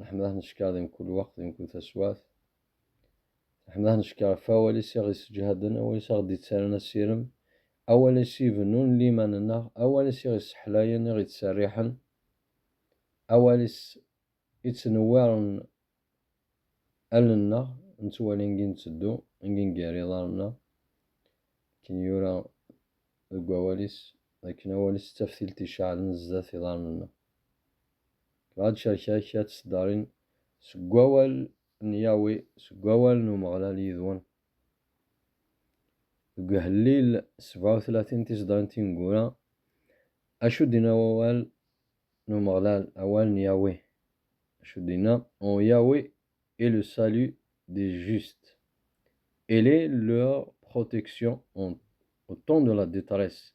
Nḥemmdeɣ neckeṛ di mkul weqt, di mkul taswaɛt. Nḥemmdeɣ neckeṛ ɣef awal-is i ɣ-isseǧhaden, awal-is i ɣ-d-ittaran asirem, awal-is i ibennun liman-nneɣ, awal-is i ɣ-isseḥlayen, i ɣ-ittserriḥen, awal-is i ittnewwiṛen allen-nneɣ, nettwali angi netteddu, angi nger iḍaṛṛen-nneɣ, akken yura deg wawal-is, d akken awal-is d taftilt iceɛlen zdat iḍaṛṛen-nneɣ. Dɣa tcerrek-ak ad tt-tdarin seg wawal n Yahweh, seg wawal n Umeɣlal yid-wen. Deg Uhellil sebɛa u tlatin tiseddarin tineggura, acu d-inna wawal n Umeɣlal, awal n Yahweh? Acu d-inna? En Yahweh est le salut des justes. Il est leur protection en au temps de la détresse.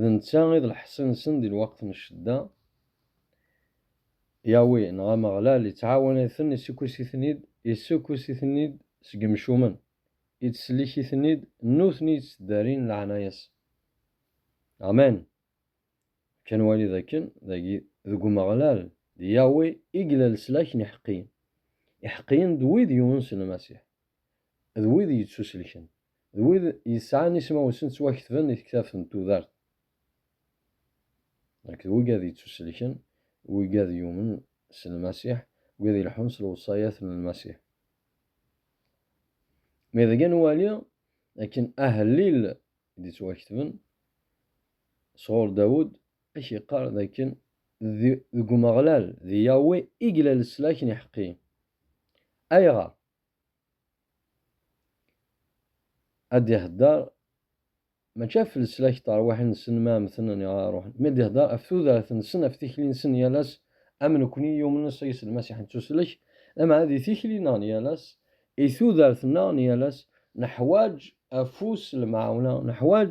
D netta i d lḥess-nsen di lweqt n ccedda. Yahweh neɣ Ameɣlal ittɛawan-iten, issukkes-iten-id, issukkes-iten-id seg yemcumen, ittsellik-iten-id, nutni i yetteddarin leɛnaya-s. Amen! Fkan wali dakken dagi deg Umeɣlal, d Yahweh i yella leslak n iḥeqqiyen. Iḥeqqiyen d wid yunen s Lmasiḥ, d wid yettuselken. d wid yesɛan ismawen-nsen ttwaketben i tektabt n tudert akked wigad yettuselken, wigad yumen s Lmasiḥ, wid ileḥḥun s lewṣayat n Lmasiḥ. Mi deg ad nwali akken ahellil i d-ittwaketben sɣur Dawed ad k-yeqqar d akken d deg Umeɣlal, d Yahweh, i yella leslak n iḥeqqiyen. Ayɣer? ad d-ihedder mačči ɣef leslak n terwiḥin-nsen mi ara mmten neɣ ara ruḥen, mi ad d-ihedder ɣef tudert-nsen, ɣef tikli-nsen n yal ass, am nekni yumnen s Ɛisa Lmasiḥ nettuslek, lameɛna di tikli-nneɣ n yal ass, i tudert-nneɣ n yal ass, neḥwaǧ afus n lemɛawna, neḥwaǧ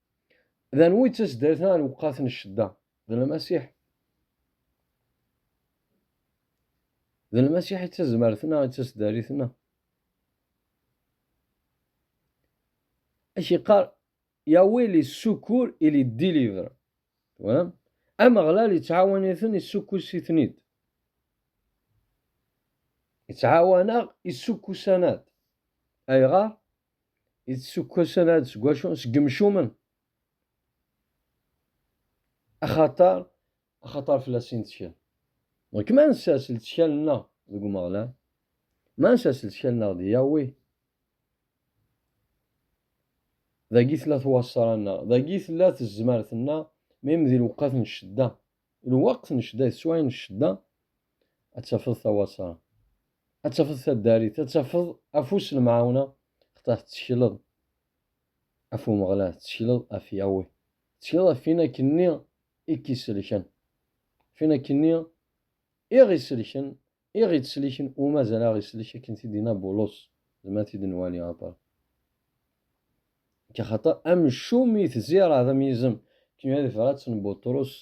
D anwa i d taseddarit n lewqat n ccedda? D Lmasiḥ. D Lmasiḥ i d tazmert-nneɣ, i d taseddarit-nneɣ. Ad k-iqqar Yahweh li ssukur i li délivre. Twalam? Ameɣlal ittɛawan-iten, issukkus-iten-id. Ittɛawan-aɣ, issukkus-aneɣ-d. Ayɣer? i d-sukkasen ad seg wacu seg yemcumen axaṭer axaṭer fell-as i nettkel donc ma nessers lettkal-nneɣ deg Umeɣlal ma nessers lettkal-nneɣ di Yahweh dagi tella twaṣṣra-nneɣ dagi tella tezmert-nneɣ mi di lewqat n ccedda Lweqt n ccedda yeswa n ccedda, ad tafeḍ tawasa, ad tafeḍ taddarit, ad tafeḍ afus n lemɛawna, xtaṛ tettekleḍ af Umeɣlal, tettekleḍ af Yahweh, tettekleḍ af win akken-nni i k-iselken, af win akken-nni i ɣ-iselken I ɣ-ittseliken umazal a ɣ-isellek akken t-id-yenna Bulus, zmer ad t-id-nwali aṭer akka xaṭer amcum i tezira d amyizem akken yuha di tebrat n Buṭrus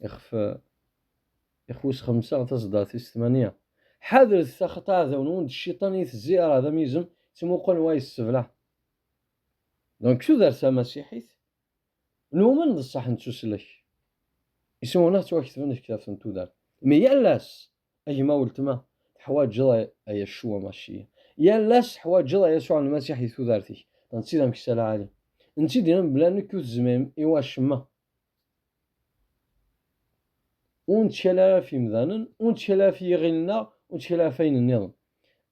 ixef ixef wis xemsa taseddart tis tmanya. Ḥadret taxaṭer aɛdaw-nwen d cciṭan i tezira d amyizem tt-imuqlen wa yesseblaɛ. Donc tudert tamasiḥit Numen d ṣṣeḥ nettuslek isumuna ttwaketben deg ktabt n tudert. Mi yal ass, a gma weltma, teḥwaǧeḍ a Yaccu Amassiya. Yal ass teḥwaǧeḍ a Yasuɛ Lmasiḥ di tudert-ik. D netta i d ameksa lɛali. D netta i d-yenna mebla nekk ur tezmirem i wacemma. Ur nettkal ara ɣef yemdanen, ur nettkal ara ɣef yiɣil-nneɣ, ur nettkal ara ɣef ayen nniḍen.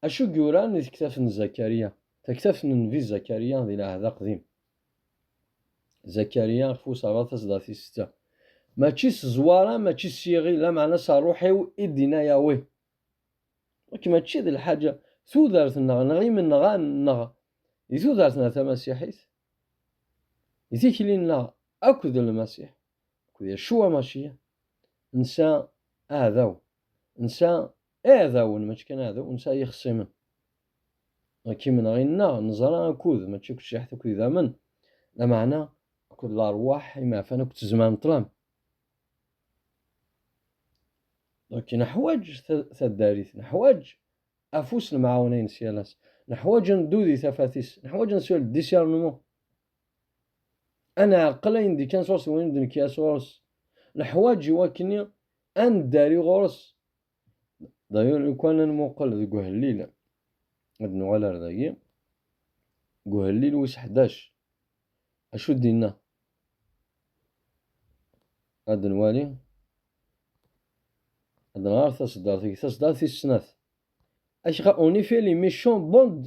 Acu i yuran di tektabt n Zakariya, taktabt n nnbi Zakariya di lɛehd aqdim? Zakarya ɣef userraḍ taseḍart i setta. Mačči s zzwara, mačči s yiɣil, lameɛna s rruḥ-iw i d-inna Yahweh. Nekk mačči d lḥaǧa, tudert-nneɣ neɣ imenɣan-nneɣ di tudert-nneɣ tamasiḥit, di tikli-nneɣ akk d Lmasiḥ, akk d Yacua Maciya. Nesɛa aɛdaw, nesɛa iɛdawen, mačči kan aɛdaw, nesɛa ixṣimen. Akim neɣ inna, neẓra akud, mačči akked ciḥet akked idammen, lameɛna akked larwaḥ, imeɛfan akked tzemar n ṭṭlam. Akin neḥwaǧ taddarit, neḥwaǧ afus n mɛawna-ines yal ass, neḥwaǧ ad neddu di tafat-is, neḥwaǧ ad neswel discernement, ad nɛqel ayen d-ikkan sɣur-s d wayen ur d-nekki ara sɣur-s, neḥwaǧ i wakken ad neddari ɣur-s D'ailleurs, lukan ad nmuqel deg uhellil, ad nuɣal ar dagi, deg uhellil wis ḥdac, acu d-inna? Ad nwali, ad nɣer taseddart-agi, taseddart tis snat. Acqa, en effet, les méchants bondent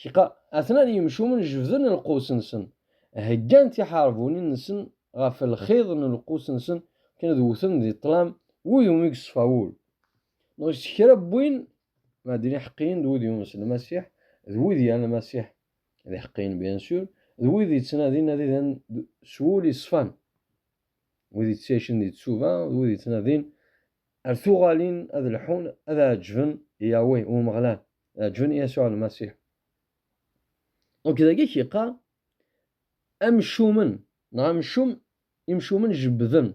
Kqa, atnan yimcumen jebden lqus-nsen, heggan tiḥerbunin-nsen ɣef lxiḍ n lqus-nsen akken ad wten di ṭṭlam wid umi yeṣfa wul, neɣ s kra n win ma d iḥeqqiyen d wid yunes Lmasiḥ, d wid yal Lmasiḥ d iḥeqqiyen bien sûr, d wid yettnadin ad idan s wul yeṣfan, wid yettɛicen di tsuba, d wid yettnadin Ar tuɣalin ad lḥun, ad ɛeǧǧben i Yahweh i Umeɣlal, ɛeǧǧben i Yasuɛ Lmasiḥ. Dɣuk dagi i k-yeqqar, Amcumen, neɣ amcum, imcumen jebbden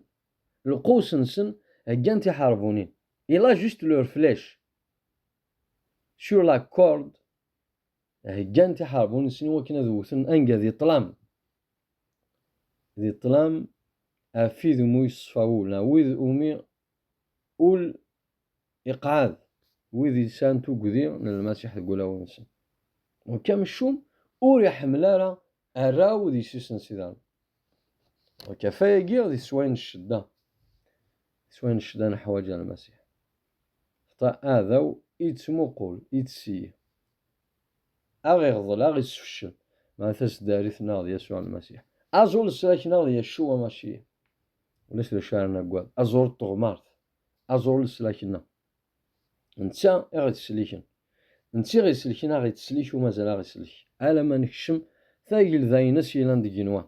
lqews-nsen, heggan tiḥerbunin. Il a juste leurs flèches sur la corde Heggan tiḥerbunin-nsen i wakken ad wwten anga di ṭṭlam, di ṭṭlam ɣef wid umi yeṣfa wul neɣ wid umi ul iqɛed, wid yesɛan tuggdi n Lmasiḥ deg wulawen-nsen. Nekk amcum ur iḥemmel ara arraw d yessi-s n Sidan. Nekk ɣef wayagi di teswayin n ccedda, di teswayin n ccedda neḥwaǧ Lmasiḥ. Xta aɛdaw i yettmuqul, yetteseyyi. Aɣ iɣḍel, aɣ isfeccel. Mɛa taseddarit neɣ d Yasuɛ Lmasiḥ. Aẓ ur nesrek neɣ d Yaccuwa Maciya. Ulac d acu ara naggad. Aẓ ur d teɣmart. Aẓ ur leslak nneɣ. Netta i ɣ-ittseliken. Netta i ɣ-isselken, aɣ ittslik u mazal aɣ isselk. Alamma nekcem tagelda-ines yelan deg yigenwan.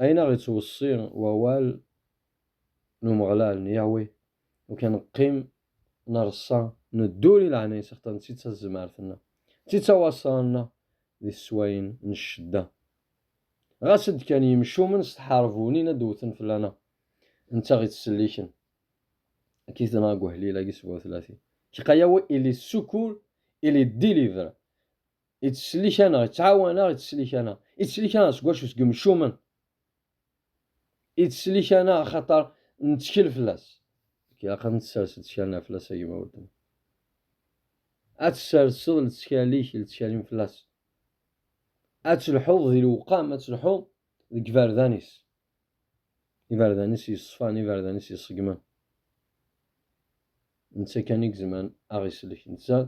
Ayen aɣ ittweṣṣi wawal n Umeɣlal, n Yahweh, ukan neqqim, neṛṣa, neddur i leɛnayes axaṭer netta i d tazmert-nneɣ, netta i d tawasra-nneɣ di teswayin n ccedda. Ɣas ad d-kkan yimcumen s tḥerbunin ad d-wwten fell-aneɣ, netta aɣ ittselliken. Akka i t-nɣa deg uḥlil-agi sebɛa utlatin. Kqa Yahweh il est secours, il est délivré. Ittsellik-aneɣ, ittɛawan-aɣ, ittsellik-aneɣ. Ittsellik-aneɣ seg wacu? Seg imcumen. Ittsellik-aneɣ axaṭer nettkel fell-as. Ilaq ad nessers lettkal-nneɣ fell-as a gma weltma. Ad tesserseḍ lettkal-ik, lettkal-im fell-as. Ad telḥuḍ di lewqam, ad telḥuḍ deg iberdan-is. Iberdan-is yeṣfan, iberdan-is iṣeggmen. Netta kan i izemren ad ɣ-isellek. Netta,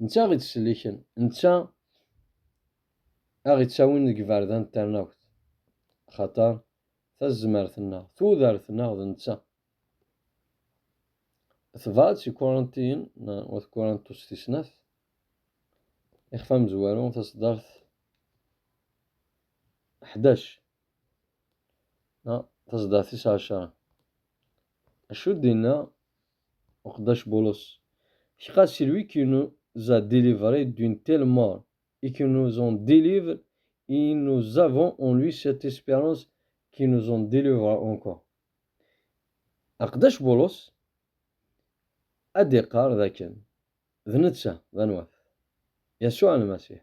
netta ad ɣ-ittselliken. Netta ad ɣ-ittawin deg iberdan n ternawt. Axaṭer tazmert-nneɣ, tudert-nneɣ d netta. Tebɛed si Kurantiyen, wat Kurantus tis snat, ixef amezwaru, taṣeddart ḥdac. Tazeḍḍa tis ɛecṛa Acu d-yenna uqeddac Bulus? Car celui qui nous a délivrés d'une telle mort et qui nous en délivre, et nous avons en lui cette espérance qui nous en délivrera encore. Aqeddac Bulus ad d-iqqar d akken d netta d anwa-t? Yasuɛ Lmasiḥ.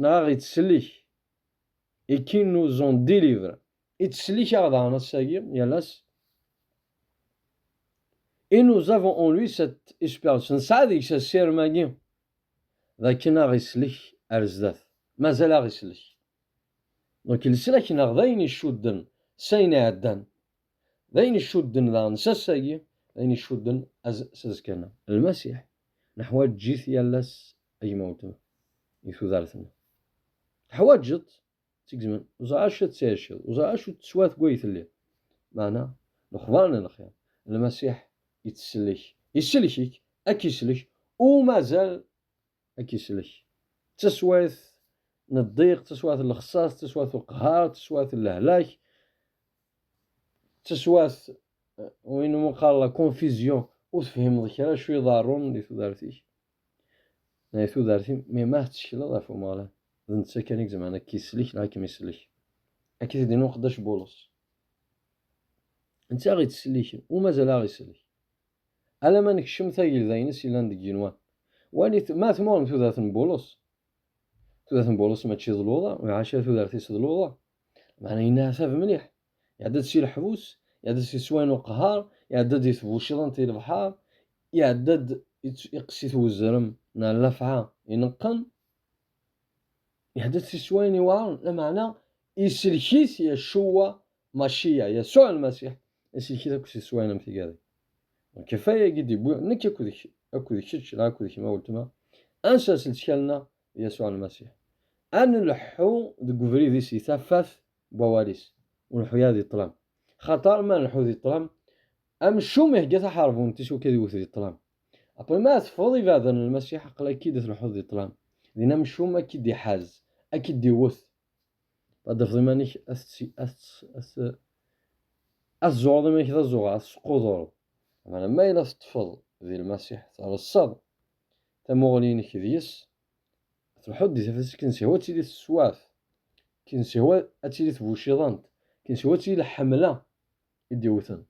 Nɣaɣ ittsellik, et qui nous ont délivré. Ittsellik-aɣ daɣen ass-agi, yal ass. Et nous avons en lui cette espérance, nesɛa deg-s asirem-agi d akken aɣ islek ar zdat, mazal aɣ islek. Donc leslak-nneɣ d ayen icudden s ayen iɛeddan. D ayen icudden daɣen s ass-agi, d ayen icudden s azekka-nneɣ. Lmasiḥ, neḥwaǧ-it yal ass a gma weltma, deg tudert-nneɣ. Teḥwaǧeḍ-t seg zzman, ur ẓriɣ acu tettɛiciḍ, ur ẓriɣ acu teswa deg way telliḍ. Meɛna, lexbar n lxir, Lmasiḥ ittsellek, isellek-ik, a k-isellek, u mazal ad k-islek. D taswayt n ddiq, d taswayt n lexsas, d taswayt n lqehar, d taswayt n lehlak, d taswayt win umi qqar la confusion, ur tefhimeḍ kra acu iḍerrun di tudert-ik, neɣ di tudert-im, mi ma tettekleḍ ɣef Umeɣlal, d netta kan i izemren ad k-islek neɣ ad kem-islek. Akka i t-id-yenna uqeddac Bulus. Netta aɣ-ittselliken, u mazal aɣ-isellik. Alamma nekcem tagelda-ines yellan deg yigenwan. Walit ma tmurem tudert n Bulus. Tudert n Bulus mačči d luḍa, maca tudert-is d luḍa. Meɛna yenneɛtab mliḥ. Iɛedda-d si leḥbus, iɛedda-d si sswayen uqehhar, iɛedda-d di tbucḍant i lebḥar, iɛedda-d iqess-it wezrem neɣ llafɛa ineqqen. Ihdet si swayen iweɛren, lameɛna isellek-it Yacuwa Maciya, Yasuɛ Lmasiḥ, isellek-it akk si swayen am tigadi. Donc ɣef waya i yi-d-iwwi nekk akked kečč neɣ akked kemm a weltma, ad nsers lettkal-nneɣ di Yasuɛ Lmasiḥ, ad nleḥḥu deg ubrid-is di tafat n wawal-is, ur nleḥḥu ara di ṭṭlam. Axaṭer ma nleḥḥu di ṭṭlam, amcum ihegga taḥerbuntt-is wakk ad iwwet di ṭṭlam. Après ma teffɣeḍ ibeɛden n Lmasiḥ aql a k-id telḥuḍ di ṭṭlam, din amcum a k-id iḥaz, a k-id iwwet, ad d-tafeḍ iman-ik a t-tzuɣreḍ iman-ik d azuɣer, a t-tesqudureḍ, meɛna ma yella teṭṭfeḍ di Lmasiḥ, treṣṣaḍ tamuɣli-inek deg-s, telḥuḍ di tafat-is, kin sihwa ad tili teswaɛt, kin sihwa ad tili tbuciḍant, kin sihwa ad tili lḥemla, i d-iwwten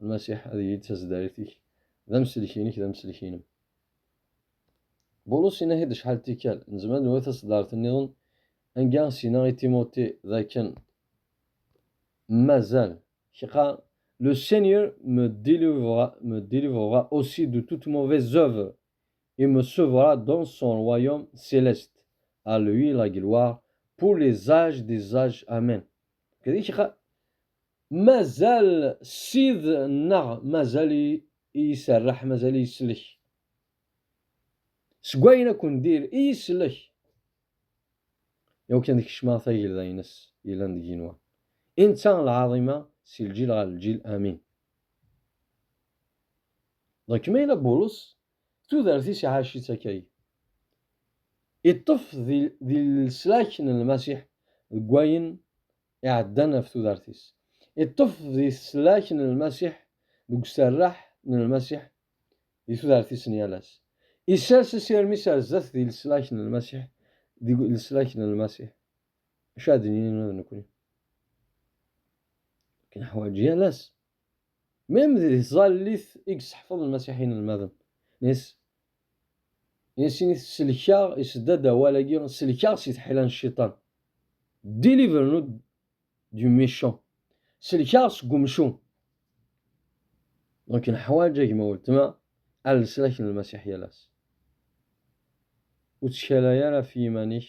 Lmasiḥ ad yili d taseddarit-ik, d amsellek-inek, d amsellek-inem. Bulus inah-id acḥal tikkal, nezmer ad nwet taseddarit nniḍen, anga s-yenna i Timuti d akken mazal kqa, Le Seigneur me délivrera, me délivrera aussi de toute mauvaise œuvre et me sauvera dans son royaume céleste. À lui la gloire pour les âges des âges. Amen. Kadi kqa, Mazal Sid nneɣ mazal iserreḥ, mazal iselek. Seg wayen akk n dir i iselek. Iwakken ad kecmeɣ tagelda ines yellan deg yenwa. I netta lɛaḍima si lǧil ɣer lǧil amin. Ḍek ma yella Bulus tudert-is iɛac-itt akkay. Iṭṭef di leslak n Lmasiḥ deg wayen iɛeddan ɣef tudert-is. Iṭṭef di teslak n Lmasiḥ, deg userreḥ n Lmasiḥ di tudert-is n yal ass. Isers asirem-is ar zdat di leslak n Lmasiḥ, deg leslak n Lmasiḥ. Acu ara d-nini nekkni? Neḥwaǧ yal ass Même di tẓallit i yesseḥfeḍ lmasiḥi inelmaden is, i sin-it selkeɣ, isedda-d awal-agi selkeɣ si tḥila n cciṭan, Deliver-nous du méchant, selkeɣ seg umcum. Donc neḥwaǧ a gma weltma ar leslak n lmasiḥ yal ass. Ur ttkalay ara ɣef yiman-ik.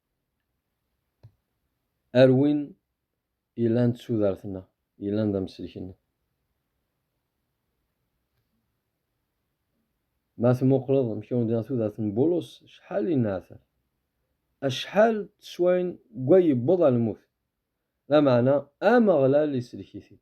Ar win ilan d tudert-nneɣ, ilan d amsellek-nneɣ. Ma tmuqleḍ amek i wen-d-iɣ tudert n Bulus, acḥal i neɛter, acḥal n teswayen deg wa yewweḍ ɣer lmut, lameɛna Ameɣlal isellek-it-id.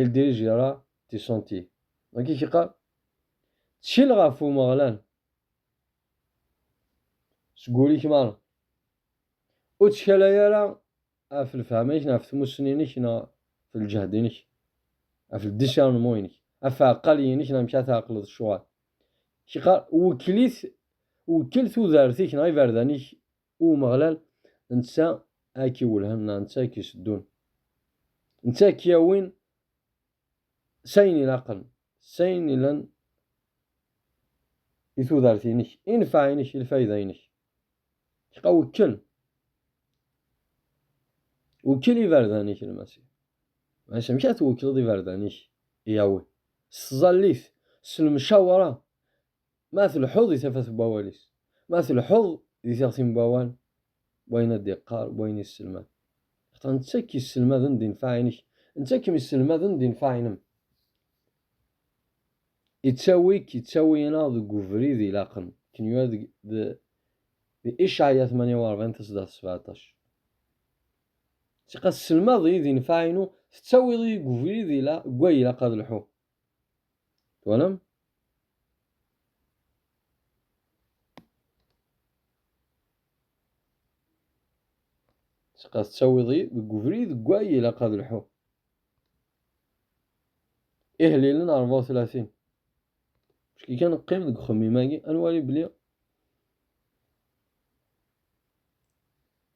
Il dirige ira ti senti. Dagi i k-iqqar, ttkel ɣef Umeɣlal seg wul-ik merra. Ur ttkalay ara ɣef lefhama-ik neɣ ɣef tmussni-inek neɣ ɣef lǧehd-inek, ɣef discernement-inek, ɣef ɛeqqal-inek neɣ amek ara tɛeqleḍ ccuɣal. K-iqqar, wekkel-it, wekkel tudert-ik neɣ iberdan-ik U Umeɣlal netta a k-iwellhen neɣ netta a k-iseddun. Netta a k-yawin s ayen ilaqen, s ayen yellan i tudert-inek, i nnfeɛ-inek, i lfayda-inek. Qa wekkel, wekkel iberdan-ik n Lmasiḥ. Maca amek ara twekkleḍ iberdan-ik i Yahweh? S tẓallit, s lemcawṛa Ma tleḥḥuḍ di tafat n wawal-is, ma tleḥḥuḍ di tiɣti n wawal, n wayen ad d-iqqar, n wayen yesselmad. Axaṭer netta i k-yesselmaden di nnfeɛ-inek, netta i kem-yesselmaden di nnfeɛ-inem. Ittawi-k, ittawi-aneɣ deg ubrid ilaqen, akken yura deg di Icɛaya tmanya u ṛebɛin taseddaṛt sbeɛṭac. Ssiqa, tesselmadeḍ-iyi di nnfeɛ-inu, tettawiḍ-iyi deg ubrid deg wa ilaq ad lḥuɣ, Twalam? Sqa tettawiḍ-iyi deg ubrid deg way ilaq ad lḥuɣ. Ihlilen 34 Ski kan qqim deg uxemmim-agi ad nwali belli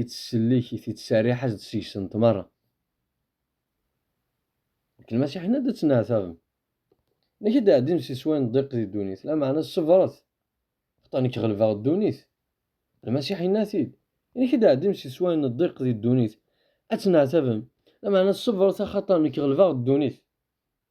ittsellik, ittserriḥ-as-d seg-sent merra. Nekk lmasiḥen ad d-ttneɛtabem. Nekk ad d-ɛeddim si sway n ddiq di ddunit, lameɛna ṣebret, xaṭer nekk ɣelbeɣ ddunit. Lmasiḥ yenna-t-id, Nekk ad d-ɛeddim si sway n ddiq di ddunit, ad ttneɛtabem, lameɛna ṣebret axaṭer nekk ɣelbeɣ ddunit.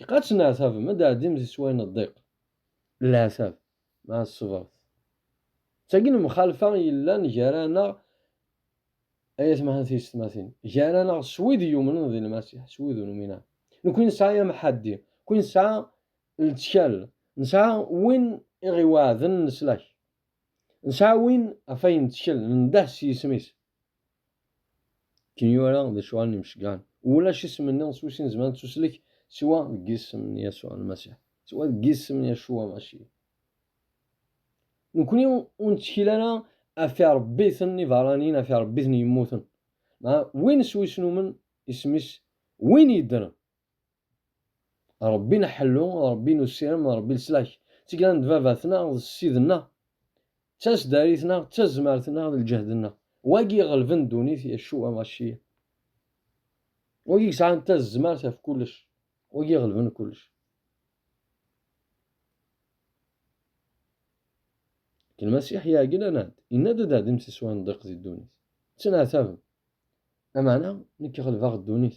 Ilaq ad tenneɛtabem, ad d-tɛeddim di sswayen n ddiq, n leɛtab, meɛ ṣṣebret. D tagi lemxalfa yellan gar-aneɣ, ay atmaten d teysetmatin, gar-aneɣ s wid yumnen di Lmasiḥ s wid ur numin ara. Nekwi nesɛa amḥaddi, nekwi nesɛa lettkal, nesɛa win i ɣ-iweɛden leslak, nesɛa win ɣef ay nettkel, nendeh s yisem-is. Ken yura d acu allen imceggɛen. Ulac isem nniḍen s wis-i nezmer ad nettuslek siwa deg yisem n Yasuɛ Lmasiḥ, siwa deg yisem n Yacua Maci. Nekkni ur nettkel ara ɣef iṛebbiten ibeṛṛaniyen, ɣef iṛebbiten yemmuten. Meɛna win s wis numen isem-is, win yeddren, Ṛebbi n aḥellu, Ṛebbi n usirem, Ṛebbi n leslak. D tigla n baba-tneɣ, d ssid-nneɣ, d tasdarit-nneɣ, d tazmert-nneɣ, d lǧehd-nneɣ. Wagi iɣelben ddunit, Yaccuɛ Amasiya. Wagi yesɛan tazmert ɣef kullec, wagi iɣelben kullec. Lmasiḥ iɛeglan-aɣ-d, yenna-d ad ɛeddim si sswa n ddiq di ddunit. Ttenɛetabem. Lameɛna, nekk ɣelbeɣ ddunit,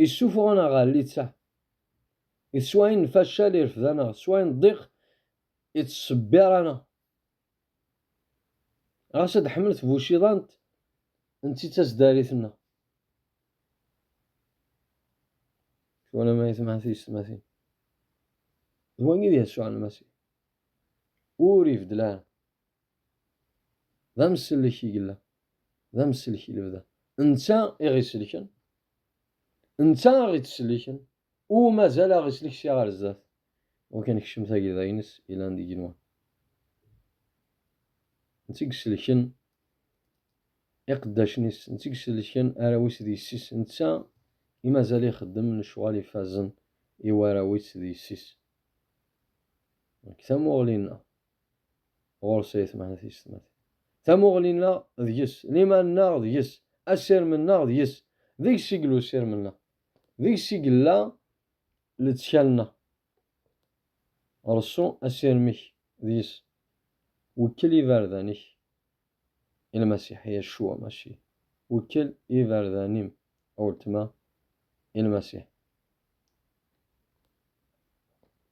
Yessuffuɣ-aneɣ ɣer littseɛ, d s wayen n facal irefd-aneɣ, s wayen n ddiq ittṣebbir-aneɣ. Ɣas ad d-ḥemmel tbuciḍant n ti d tasdarit-nneɣ. Twalam ay temɛen tiyessetmatin? D wagi i d Yasuɛ Lmasiḥ. Ur ibeddel ara. D amsellek i yella, d amsellek i lebda. Netta i ɣ-isellken, netta i ɣ-ittselliken, u mazal a ɣ-isellek sya ɣer zdat. Dɣuk ad nekcem tagida-ines yellan d igenwa. Netta i isellken iqeddacen-is, netta i isellken arraw-is d yessi-s, netta i mazal ixeddem lecɣal ifazen i warraw-is d yessi-s. Deg tamuɣli-nneɣ, ɣur-s ay tmeḥna tiyessetmatin. Tamuɣli-nneɣ deg-s, liman-nneɣ deg-s, asirem-nneɣ deg-s, deg-s i yella usirem-nneɣ, deg-s i yella lettkal-nneɣ. Reṣṣu asirem-ik deg-s, wekkel iberdan-ik i Lmasiḥ, Yacua Maci, wekkel iberdan-im, a weltma, i Lmasiḥ.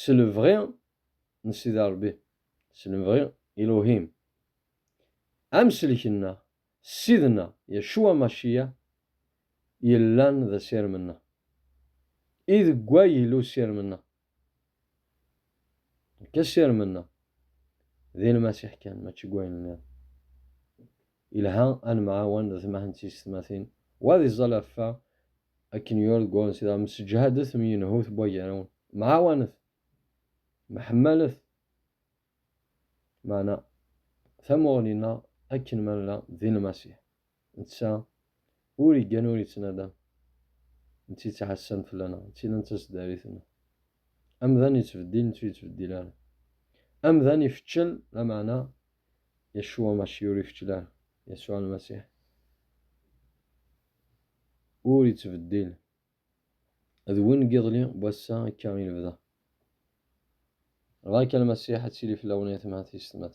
s lebɣi n Sidi Ṛebbi, s lebɣi Iluhim. Amsellek-nneɣ, Ssid-nneɣ Yacua Maciya, yellan d asirem-nneɣ. I deg way yella usirem-nneɣ? Nekk asirem-nneɣ, d i Lmasiḥ kan, mačči deg wayen nniḍen. Yelha ad nemɛawan d temah n tiysetmatin. Wa d iẓẓal ɣef wa, akken yura deg waɣen sida, msseǧhadet am yenhut n wagarawen, mɛawanet, mḥemmalet, meɛna tamuɣli-nneɣ akken ma nella di Lmasiḥ, netta ur iggan ur ittnadam, d tid ttɛassan fell-aneɣ, d tid n taseddarit-nneɣ. Amdan yettbeddil, nettu yettbeddil ara. Amdan ifeččel, lameɛna Yeshua Mashiur ikeččla, Yasuɛ Lmasiḥ, ur ittbeddil, d win n yiḍelli, n wass-a, akka i lebda. Ɣer-k a Lmasiḥ, ad tili fell-awen yatmatis, tmat.